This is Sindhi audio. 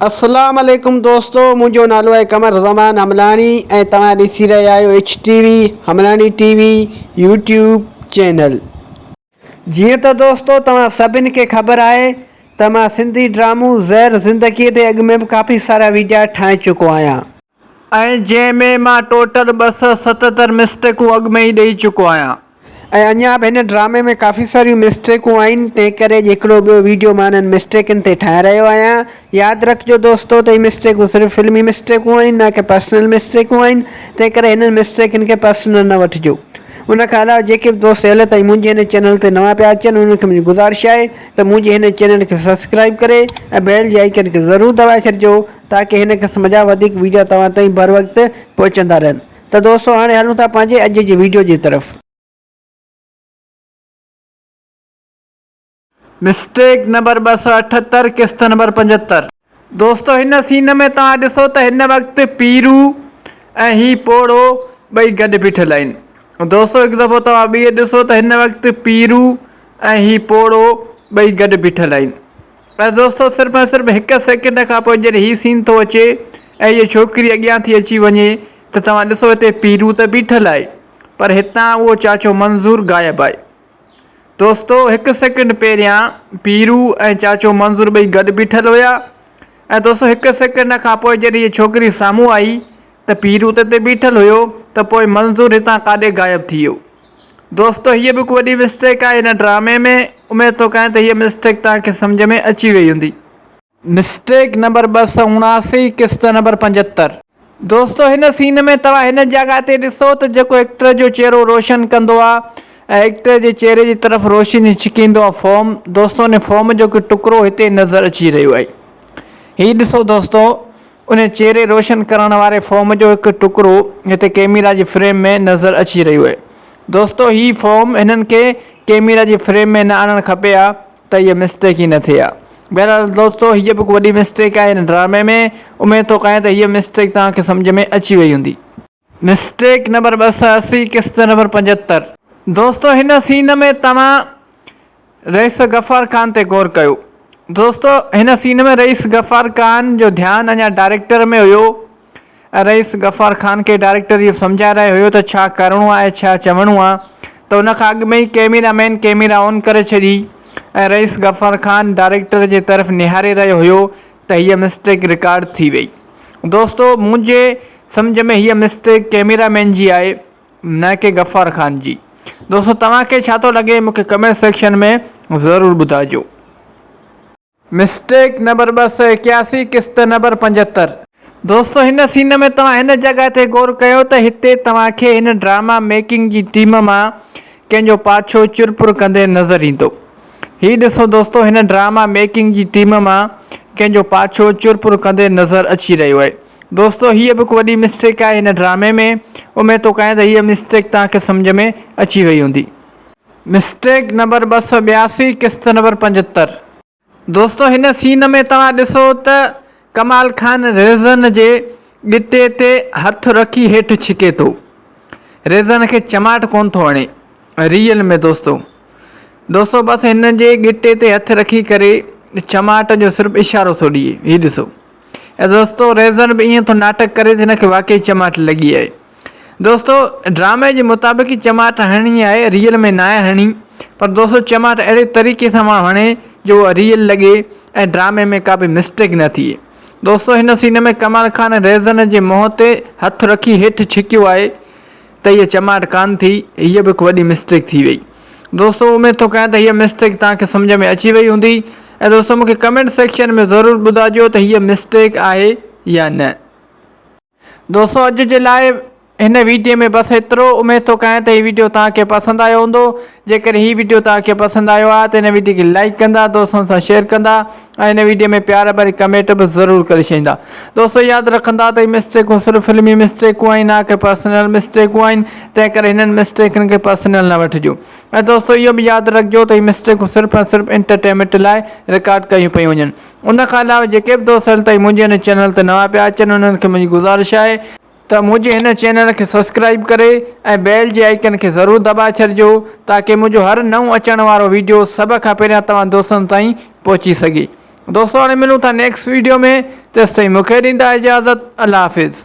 اسلام عليڪم دوستو منهنجو نالو آهي قمر زمان حملاڻي ۽ توهان ڏسي رهيا آهيو H T V Hamlani T V YouTube channel جيئن ته دوستو توهان سڀني کي خبر آهي ته مان سنڌي ڊرامو زهر زندگي تي اڳ ۾ به ڪافي سارا ويڊيا ٺاهي چڪو آهيان ۽ جنهن ۾ مان ٽوٽل ٻه سؤ ستهتر مسٽيڪون اڳ ۾ ئي ڏئي چڪو آهيان. ۽ اڃا به هن ڊرامي ۾ ڪافي ساريون مسٽيڪون آهن تنهن ڪري اڄ هڪڙو ٻيو ويڊيو مان انهن مسٽيڪن تي ٺاهي رهيو آهيان. ياد رکجو دوستو ته هي مسٽيڪون صرف فلمي مسٽيڪون آهن نه ڪي پرسنل مسٽيڪون آهن تنهن ڪري هنن مسٽيڪن کي پرسنل نه وٺجو. ان کان علاوه جيڪي به دوست هل تائين منهنجي هن چينل تي نوان پيا اچن انهن کي منهنجي گذارش آهي ته منهنجي هن چينل کي سبسڪرائيب ڪري ۽ بيل جي آئيڪن کي ضرور دٻائي ڇڏجو تاڪه هن قسم جا وڌيڪ وڊيو توهان تائين بر وقت پهچندا رهن ته دوستو هاڻي هلون ٿا پنهنجي اڄ جي وڊيو جي طرف. مسٽيڪ نمبر ٻه سؤ اٺهتر قسط نمبر پنجهتر. دوستو هن سين ۾ توهان ڏسو ته هن وقت پيرو ۽ هي پوڙهو ٻئي گڏ بيٺل آهن دوستو هڪ دفعو توهان ٻيهر ڏسو ته هن وقت پيرو ۽ هي پوڙهو ٻئي گڏ بيٺل آهن ۽ دوستو صرف ۽ صرف هڪ سيڪنڊ کان پوء جڏهن هي سين ٿو اچي ۽ هيء ڇوڪري اڳيان ٿي اچي وڃي ته توهان ڏسو هتي پيرو ته بيٺل آهي پر هتان اهو چاچو منظور غائب آهي دوستو هڪ سيڪنڊ پهريان پيرو ۽ چاچو منظور ٻئي گڏ بيٺل هيا ۽ دوستو هڪ سيڪنڊ کان پوء جڏهن هيء ڇوڪري سامهون آئي ته پيرو ته هتي بيٺل هيو ته پوء منظور هتان ڪاڏي غائب ٿي ويو دوستو هيء به هڪ وڏي مسٽيڪ آهي هن ڊرامي ۾، اميد ٿو ڪيان ته هيء مسٽيڪ توهان کي سمجهه ۾ اچي وئي هوندي. مسٽيڪ نمبر ٻه سؤ اڻاسي، قسط نمبر پنجهتر. دوستو هن سين ۾ توهان هن جڳهه تي ڏسو ته جيڪو ايڪٽر جو چهرو روشن ڪندو آ ۽ ايڪٽر جي چهري جي طرف روشني ڇڪيندو آ فوم دوستو ان فوم جو هڪ ٽڪرو هتي نظر اچي رهيو آهي هي ڏسو دوستو ان چهري روشن ڪرڻ واري فوم جو هڪ ٽڪرو هتي ڪئميرا جي فريم ۾ نظر اچي رهيو اهي دوستو هي فوم هنن کي ڪئميرا جي فريم ۾ نه آڻڻ کپي ها ته هيء مسٽيڪ ئي نه ٿئي ها بهرحال دوستو هيء به هڪ وڏي مسٽيڪ آهي هن ڊرامي ۾ اميد ٿو ڪايان ته هيء مسٽيڪ توهان کي سمجهه ۾ اچي وئي هوندي. مسٽيڪ نمبر ٻه سئو اسي قسط نمبر پنجهتر. دوستو هن سين ۾ توهان رئيس غفار خان تي غور ڪيو دوستو هن سين ۾ رئيس غفار خان جو ڌيان اڃا ڊائريڪٽر ۾ هيو ۽ رئيس غفار خان کي ڊائريڪٽر اهو سمجهائي رهيو هيو ته ڇا ڪرڻو آهي ڇا چوڻو آهي ته ان کان اڳ ۾ ئي ڪئميرا مين ڪئميرا آن ڪري ڇڏي ۽ رئيس غفار خان ڊائريڪٽر جي طرف نهاري رهيو هيو ته هيء مسٽيڪ رڪارڊ ٿي وئي. دوستو منهنجي سمجهه ۾ هيء مسٽيڪ ڪيميرا مين جي آهي نه ڪي غفار خان جي. دوستو توهان کي ڇا ٿو لڳي مون کي ڪمينٽ سيڪشن ۾ ضرور ٻڌائجو. مسٽيڪ نمبر ٻه سؤ ايڪياسي قسط نمبر پنجهتر. دوستو هن سين ۾ توهان هن جڳهه تي غور ڪيو ته هتي توهان کي هن ڊراما ميڪنگ جي ٽيم مان ڪنهن جو پاڇو چرپر ڪندي نظر ايندو. هي ڏسو دوستو هن ڊراما ميڪنگ جي ٽيم مان ڪنهن جو پاڇو چر پر ڪندي نظر اچي رهيو آهي دوستو هيء به هڪ وڏي مسٽيڪ آهي هن ڊرامي ۾ اميد ٿو ڪيان ته هيء مسٽيڪ توهان کي سمجهه ۾ اچي وئي هوندي مسٽيڪ نمبر ٻه سؤ ٻياسي قسط نمبر پنجهتر. دوستو هن سين ۾ توهان ڏسو ته ڪمال خان ريزن جي ڳٽي تي هٿ رکي هيٺ ڇڪي ٿو. ريزن کي چماٽ ڪونه ٿو هڻي. ريئل ۾ دوستو. دوستو بس هن جي ڳٽي تي هٿ رکي ڪري چماٽ جو صرف اشارو ٿو ڏئي. هي ڏسو. دوستو ريزن به ائين ٿو ناٽڪ ڪري ته هن کي واقعي چماٽ لڳي آهي. دوستو ڊرامي جي مطابق ئي چماٽ هڻڻي آهي ريئل ۾ ناهي هڻڻي پر دوستو چماٽ اهڙي طريقي سان پاڻ هڻي جو اها ريئل لڳي ۽ ڊرامي ۾ ڪا به مسٽيڪ نه ٿئي دوستو هن سين ۾ ڪمال خان ريزن جي منهن تي هٿ رکي هيٺ ڇڪيو آهي ته هيء چماٽ ڪانه ٿي هيء به هڪ وڏي مسٽيڪ ٿي وئي دوستو اميد ٿو ڪيان ته هيء مسٽيڪ توهان کي سمجھ ۾ اچي وئي هوندي ۽ دوستو مون کي ڪمينٽ سيڪشن ۾ ضرور ٻڌائجو ته هيء مسٽيڪ آهي يا نه دوستو اڄ جي لاء هن ويڊيو ۾ بس ايترو اميد ٿو ڪيان ته هي ويڊيو توهان کي پسند آيو هوندو جيڪڏهن هي ويڊيو توهان کي پسند آيو آهي ته هن ويڊيو کي لائڪ ڪندا دوستن سان شيئر ڪندا ۽ هن ويڊيو ۾ پيار ڀري ڪمينٽ به ضرور ڪري ڇڏيندا دوستو ياد رکندا ته هي مسٽيڪون صرف فلمي مسٽيڪون آهن نه ڪي پرسنل مسٽيڪون آهن تنهن ڪري هنن مسٽيڪن کي پرسنل نه وٺجو ۽ دوستو اهو به ياد رکجو ته هي مسٽيڪون صرف ۽ صرف انٽرٽينمينٽ لاء رڪارڊ ڪيون پيون وڃن ان کان علاوه جيڪي به دوست هل تائين منهنجي هن چينل تي نوان پيا اچن انهن کي منهنجي گذارش آهي ته منهنجي هن چينل کي سبسڪرائيب ڪري ۽ بيل جي آئيڪن کي ضرور دٻائي ڇڏجو تاڪه منهنجو هر نئون اچڻ وارو ويڊيو سڀ کان پهريان توهان دوستن تائين پهچي سگهي دوستو هاڻي ملون ٿا نيڪسٽ ويڊيو ۾ تيستائين مون کي ڏيندا اجازت الله حافظ.